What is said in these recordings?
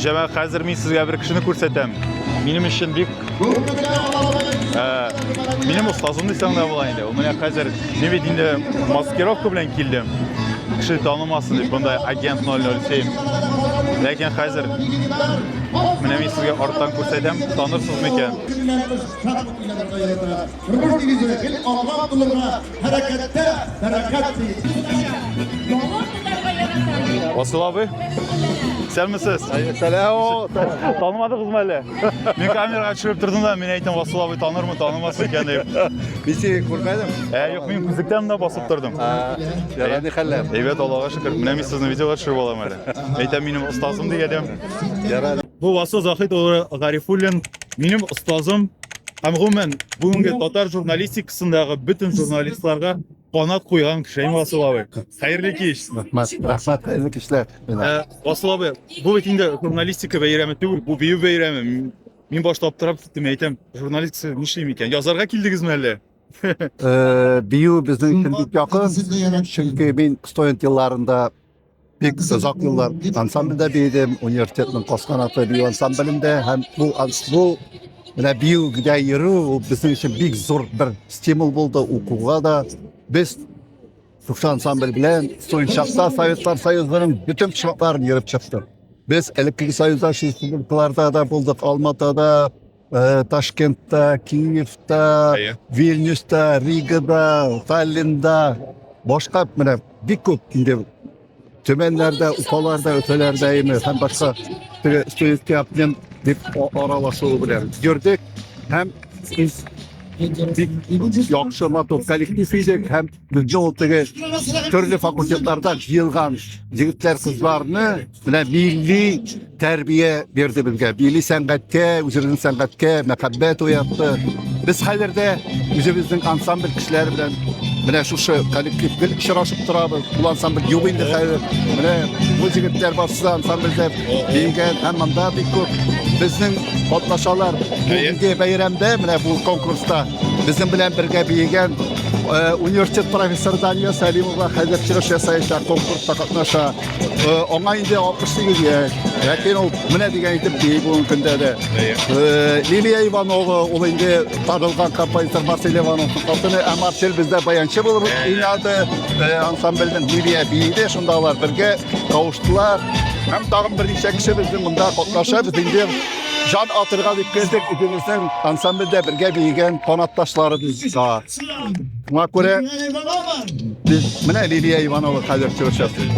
Җәмәгать, хәзер мин сезгә бер кешене күрсәтәм. Минем өчен бик минем остазым дисәң дә була инде. Ул менә хәзер мин бит инде маскировка белән килдем. Кеше танымасын дип, монда агент 007. Ләкин хәзер менә мин сезгә арттан күрсәтәм, танырсыз микән? Тормыш дигезенә, бел алга тулырга, Хәрәкәттә бәрәкәт ди. Асыл абый, сәлмесез. Сәлам. Танымадыгызмы әле? Мин камерага төшереп тордым да, мин әйтәм, Асыл абый танырмы, танымас икән дип. Мин сине күрмәдем. Ә, юк, мин күзлектән дә басып тордым. Ярай, ни хәлләр? Әйбәт, Аллага шөкер. Менә мин сезнең видеога төшереп алам әле. Әйтәм, минем остазым дигәдем. Ярай. Бу Васил Заһид улы Гарифуллин минем остазым һәм гомумән бүгенге татар журналистикасындагы бөтен журналистларга канат куйган кеше Әйм Васил абый. Хәерле кич. Рәхмәт, рәхмәт, хәерле кичләр. Ә, Васил абый, бу бит инде журналистика бәйрәме түгел, бу бию бәйрәме. Мин- Мин башта аптырап киттем, әйтәм, журналистика нишлим икән? Язарга килдегезме әллә? Э, Бию безнең өчен бик якын, чөнки мин студент елларында Бик озак еллар ансамбльдә биедем, университетның кос канаты бию ансамблендә һәм бу бу менә биюгә йөрү ул безнең өчен бик зур бер стимул булды укуга да. Без Шушы ансамбль белән Суйшакта Советлар Союзының бөтен почмакларын йөреп чыктык. Без элеккеге союзда республикаларда да булдык, Алматада, Э, ташкентта киевта Әйе. вильнюста ригада таллинда башка менә бик күп инде төмәннәрдә уфаларда өфәләрдә име һәм башка теге студентлар апнем дип а- аралашуы белән йөрдек һәм из- бик яхшы матур коллектив идек һәм безне ул теге төрле факультетларда җыелган егетләр кызларны Менә милли тәрбия бирде безгә. Милли сәнгатькә, үзебезнең сәнгатькә мәхәббәт уятты. Без хәзер дә үзебезнең ансамбль кешеләре белән менә шушы коллектив гел очрашып торабыз. Ул ансамбль юк инде хәзер. Менә бу җегетләр барсы да ансамбльдә биегән һәм монда бик күп безнең катнашалар. Бүгенге бәйрәмдә менә бу конкурста безнең белән бергә биегән университет профессоры Дания Сәлимова хәзер чыгыш ясаячак конкурста катнаша. Аңа инде 68 яшь. Ләкин ул менә дигән итеп бии бүгенге көндә дә. Лилия Иванова ул инде табылган композитор Марсель Ивановның хатыны, ә Марсель бездә баянчы булып уйнады. Ансамбльнең Лилия биеде, шунда алар бергә кавыштылар. Һәм тагын берничә кеше безнең монда катнаша. Без инде жан атырга дип килдек. Үзебезнең ансамбльдә бергә биегән канатташларыбыз да. Шуңа күрә без менә Лилия Иванова хәзер чыгыш ясый.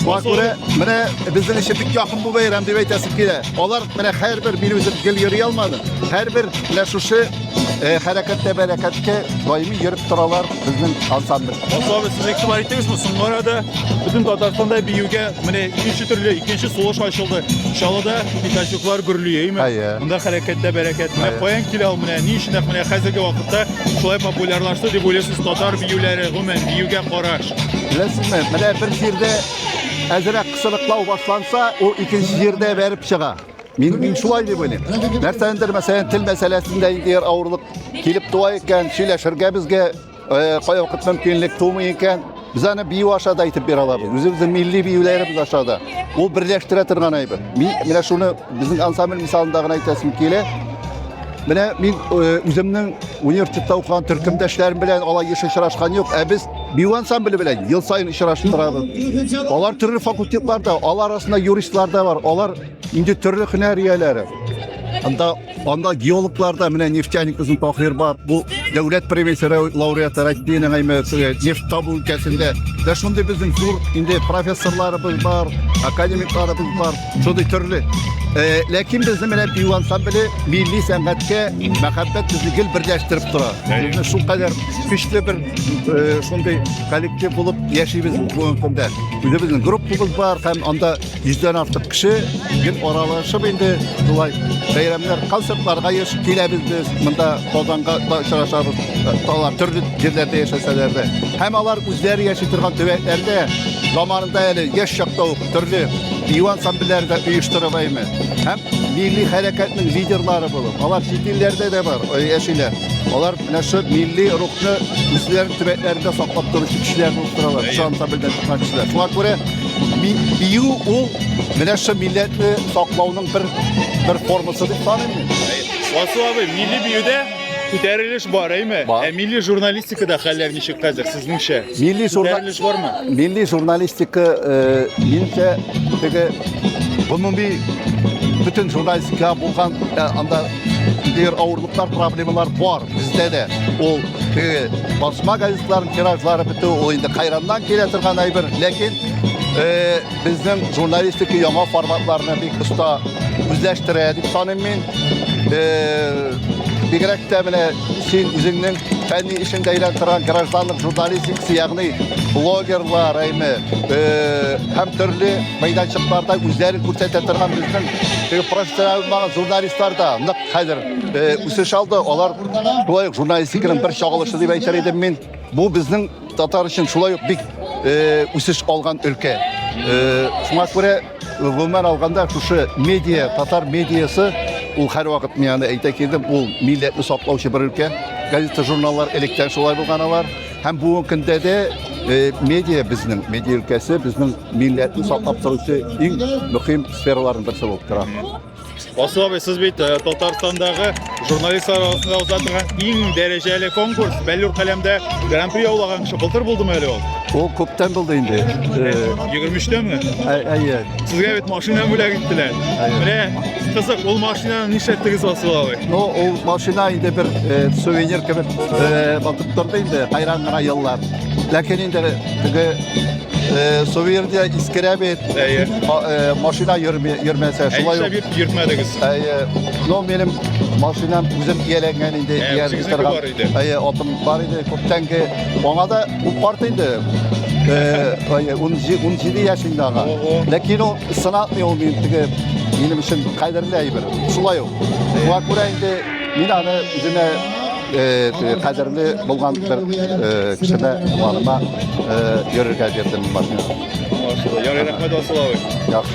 Шуңа күрә менә безнең өчен бик якын бу бәйрәм дип әйтәсем килә. Алар менә һәрбер мин үзем гел йөри алмады. Һәрбер менә шушы э, хәрәкәттә бәрәкәткә даими йөреп торалар безнең ансамбль. Особо сез игътибар итегез бу соңгы арада бөтен Татарстанда биюгә менә икенче төрле икенче сулыш ачылды. Чалыда пикачуклар гөрлиеме? Әйе. Монда хәрәкәттә бәрәкәт. Менә Әйе. каян килә ул? Ә ни өчен менә хәзерге вакытта шулай популярлашты дип уйлыйсыз татар биюләре, гомумән биюгә караш? Беләсезме, менә бер җирдә әзрәк кысылыклау башланса, ул икенче җирдә бәреп чыга. Мин, мин шулай дип уйлыйм. Нәрсәдер, мәсәлән, тел мәсьәләсендә егер авырлык килеп туа икән, сөйләшергә безгә Э, кая вакыт мөмкинлек тумый икән, без аны бию аша да әйтеп бирә алабыз. Үзебезнең милли биюләребез аша да. Ул берләштерә торган әйбер. Мин менә шуны безнең ансамбль мисалында гына әйтәсем килә. Менә мин э, үземнең университетта укыган төркемдәшләрем белән алай еш очрашкан юк, ә без бию ансамбле белән ел саен очрашып торабыз. Алар төрле факультетларда, алар арасында юристлар да бар, алар инде төрле һөнәр ияләре. Анда Анда геологларда менә нефтяник озын Таһир бар. Бу дәүләт премиясе лауреаты Рәтбина Гаймәтова нефть табу өлкәсендә. Дә шундый безнең зур инде профессорларыбыз бар, академикларыбыз бар, шундый төрле. Э, ләкин безне менә бию ансамбле милли сәнгатькә мәхәббәт безне гел берләштереп тора. Безне шул кадәр көчле бер э, шундый коллектив булып яшибез бүгенге көндә. Үзебезнең группабыз бар һәм анда Йөздән артык кеше гел аралашып инде шулай бәйрәмнәр, концертларга еш киләбез без. Монда Казанга да очрашабыз. Алар төрле җирләрдә яшәсәләр дә. Һәм алар үзләре яши торган төбәкләрдә заманында әле яшь чакта ук төрле бию ансамбльләре дә оештырып әйме. Һәм милли хәрәкәтнең лидерлары булып, алар чит илләрдә дә бар, яшиләр. Алар менә шул милли рухны үзләренең төбәкләрендә саклап торучы кешеләр булып торалар. Шул ансамбльдән чыккан кешеләр. Шуңа күрә Бию ул менә шул милләтне саклауның бер бер формасы дип саныйм мин. Васу абый, милли биюдә күтәрелеш бар, әйме? Бар. Ә милли журналистикада хәлләр ничек хәзер сезнеңчә? Милли журналистика бармы? Милли журналистика э, минемчә теге гомуми бөтен журналистика булган э, анда Дер авырлыклар проблемалар бар бездә дә. Ул теге басма газетларын тиражлары бетү, ул инде кайраннан килә торган әйбер, ләкин э, безнең журналистика яңа форматларны бик оста үзләштерә дип саныйм мин. Э, бигрәк тә менә син үзеңнең фәнни эшеңдә әйләнеп торган гражданлык журналистикасы, ягъни блогерлар, әйме, э, һәм төрле мәйданчыкларда үзләрен күрсәтә торган безнең теге профессиональ булмаган журналистлар да нык хәзер үсеш алды. Алар шулай ук журналистиканың бер чагылышы дип әйтер идем мин. Бу безнең татар өчен шулай ук бик үсеш алган өлкә. Шуңа күрә гомумән алганда шушы медиа, татар медиасы ул һәрвакыт мин аны әйтә килдем, ул милләтне саклаучы бер өлкә. Газета-журналлар электән шулай булган алар. Һәм бүгенге көндә дә э, медиа безнең, медиа өлкәсе безнең милләтне саклап торучы иң мөһим сфераларның берсе булып тора. Асыл абый, сез бит э, Татарстандағы журналистлар арасында уза торган иң дәрәҗәле конкурс, Бәллүр каләмдә гран-при яулаган кеше былтыр булдымы әле ул? Ул күптән булды инде. Э, Егерме өчтәме? ә- Әйе. Сезгә бит машина бүләк иттеләр. Әйе. Менә кызык, ул машинаны нишләттегез Асыл абый? Ну, ул машина инде бер э, сувенир кебек э, Торды инде кайран гына еллар. Ләкин инде теге э, сувенирда искерә бит. Әйе. Ма- э, Машина йөрми- йөрмәсә шулай Әйше ук. бит йөртмәдегез. Әйе. Ну минем машинам үзем ияләнгән инде. Ә, ияләнгән үзегезнеке торган. бар иде. Әйе, атым бар иде күптәнге. Аңа да бу карт инде. Э, Әйе, 17 17 яшендә ага. Ого. Ләкин ул сынатмый ул мин теге минем өчен кадерле әйбер. Шулай ук. Шуңа күрә инде мин аны үземә Кадерле булган бер кешене туганыма йөрергә бирдем машина. Ярый, рәхмәт, Василавый. Яхшы.